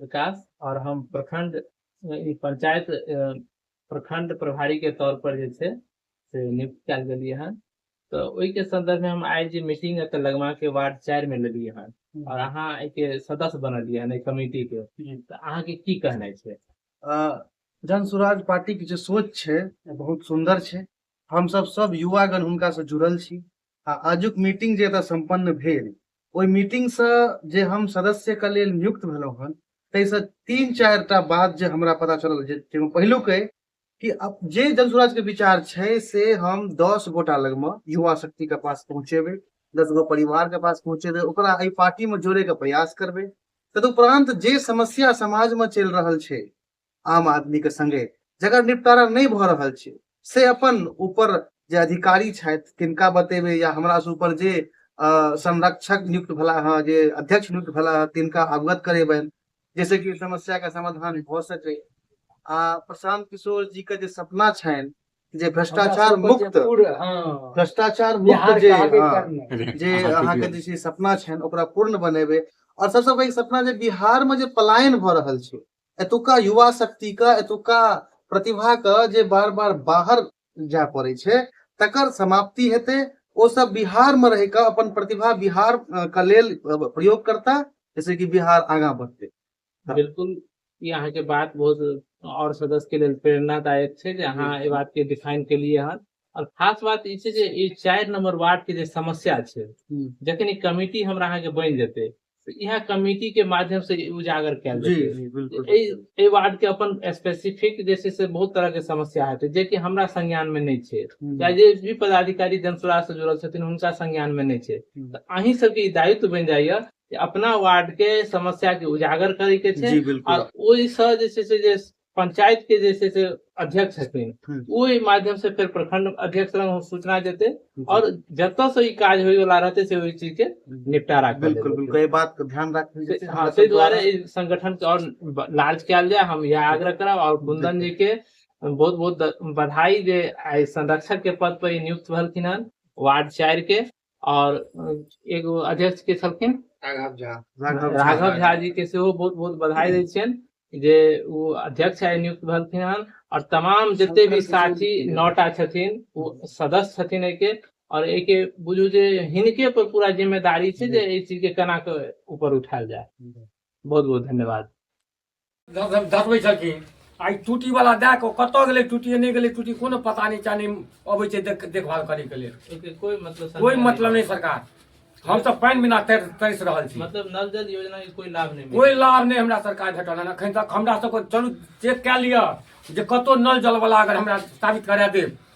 विकास और हम प्रखंड ई पंचायत प्रखंड प्रभारी के तौर पर जे छै से नियुक्त कयल गेलियै हन तऽ ओहिके संदर्भ में हम आइ जे मीटिंग एतऽ लगमा के वार्ड चारि में लेलियै हन और अहाँ एहिके सदस्य बनलियै हन एहि कमेटी के जी। तऽ अहाँ के की कहनाइ छै अ, जन स्वराज पार्टी के जे सोच छै बहुत सुंदर छै हम सब सब युवागण हुनका से जुड़ल छी आ आजुक मीटिंग जे एतय सम्पन्न भेल ओहि मीटिंगसँ जे हम सदस्यके लेल नियुक्त भेलहुँ हन ताहिसँ तीन चारि टा बात जे हमरा पता चलल जे जाहिमे पहिलुक अइ कि जे जनसुराजके विचार छै से हम दस गोटा लगमे युवा शक्तिके पास पहुँचेबै दस गो परिवारके पास पहुँचेबै ओकरा एहि पार्टीमे जोड़ैके प्रयास करबै तदुपरान्त जे समस्या समाजमे चलि रहल छै आम आदमी के संगे जकर निपटारा नहीं भ रहल छै से अपन ऊपर जे अधिकारी छथि तिनका बतेबे या हमरा से ऊपर जे संरक्षक नियुक्त भला हँ जे अध्यक्ष नियुक्त भला हँ तिनका अवगत करेबनि जैसे कि समस्या के समाधान भ सके आ प्रशांत किशोर जी के जे सपना छनि जे भ्रष्टाचार मुक्त हाँ। भ्रष्टाचार मुक्त जे हाँ, जे अहाँ के जे सपना छनि ओकरा पूर्ण बनेबे और सबसे पैघ सपना जे बिहार में जे पलायन भ रहल छै एतुका युवा शक्ति के एतुका प्रतिभा के जे बार बार बाहर जाय पड़े छै तकर समाप्ति हेतै ओ सब बिहार में रह के अपन प्रतिभा बिहार के लेल प्रयोग करता जैसे कि बिहार आगा बढ़ते हाँ। बिल्कुल ये अहाँ के बात बहुत और सदस्य के लिए प्रेरणादायक छै जे अहाँ बात के डिफाइन के लिए हन और खास बात ई छै जे ई चारि नंबर वार्ड के जे समस्या छै हम्म। जखन ई कमेटी हमरा अहाँ के बनि जेतै तऽ इएह कमेटी के माध्यम से ई उजागर कयल जी जेतै जी बिल्कुल एहि एहि वार्ड के अपन स्पेसिफिक जे छै से बहुत तरह के समस्या हेतै जेकि हमरा संज्ञान में नहि छै हम्म। या जे भी पदाधिकारी जनसुराह से जुड़ल छथिन हुनका संज्ञान में नहि छै हम्म। तऽ अहीं सबके ई दायित्व बनि जाइए जे अपना वार्ड के समस्या के उजागर करे के छै जी बिल्कुल और ओहिसँ जे छै से जे पंचायत के जे छै से अध्यक्ष छथिन हम्म। ओ एहि माध्यम से फेर प्रखंड अध्यक्ष लग सूचना देते और जतऽ से ई काज होय वाला रहते से ओहि चीज के निपटारा कर बिल्कुल देतै। बिल्कुल एहि बात के ध्यान राखबै जे छै हाँ हमरा ताहि सब दुआरे द्वारा- एहि संगठन के और लार्ज कयल जाय हम यह आग्रह करब और कुंदन जी के बहुत बहुत बधाई जे आइ संरक्षक के पद पर ई नियुक्त भेलखिन हन वार्ड चारि के आओर एगो अध्यक्ष के छलखिन राघव झा राघव झा जी के सेहो बहुत बहुत बधाई दै छियनि जे ओ अध्यक्ष आइ नियुक्त भेलखिन हन और तमाम जते भी साथी नौटा छथिन ओ सदस्य छथिन एके और एके बुझू जे हिनके पर पूरा जिम्मेदारी छै जे एहि चीज के केना के ऊपर उठायल जाय बहुत बहुत धन्यवाद धकबै छलखिन आइ टूटी वाला दए कऽ कतऽ गेलै टूटी नहि गेलै टूटी कोनो पता नहि चाह नहि अबै छै देख देखभाल करैके लेल एकर कोई मतलब कोइ सरकार मतलब नहि सरकार हम तऽ पानि बिना तर तरसि रहल छी मतलब नल जल योजना के कोई लाभ नहीं कोइ लाभ नहि हमरा सरकार भेटल हन एखन तक हमरा सबके चलू चेक कए लिअ जे कतौ नल जलवला अगर हमरा साबित करा देब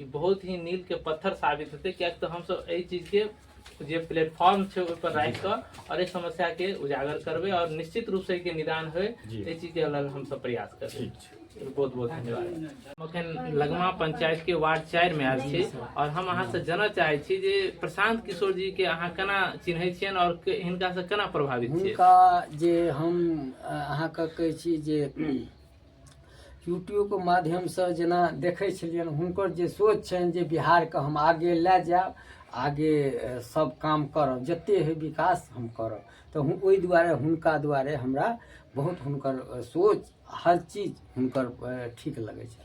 ई बहुत ही नील के पत्थर साबित हेतै किएक तऽ हमसभ एहि चीज के जे प्लेटफॉर्म छै ओहि पर राखि कऽ आओर एहि समस्या के उजागर करबै आओर निश्चित रूप से एहिके निदान होय जी। एहि चीज के लग हमसभ प्रयास करबै ठीक छै बहुत बहुत धन्यवाद हम अखन लगमा पंचायत के वार्ड चारि मे आयल छी और हम अहाँ से जानय चाहे छी जे प्रशांत किशोर जी के अहाँ केना चिन्है छियनि और के- हिनका से केना प्रभावित छियै हुनका जे हम अ, अहाँके कहै छी जे यूट्यूबके माध्यमसँ जेना देखै छलियनि हुनकर जे सोच छनि जे बिहारके हम आगे लए जायब आगे सब काम करब जते है विकास हम करब तऽ ओहि दुआरे हुनका दुआरे हमरा बहुत हुनकर सोच हर चीज हुनकर ठीक लगै छै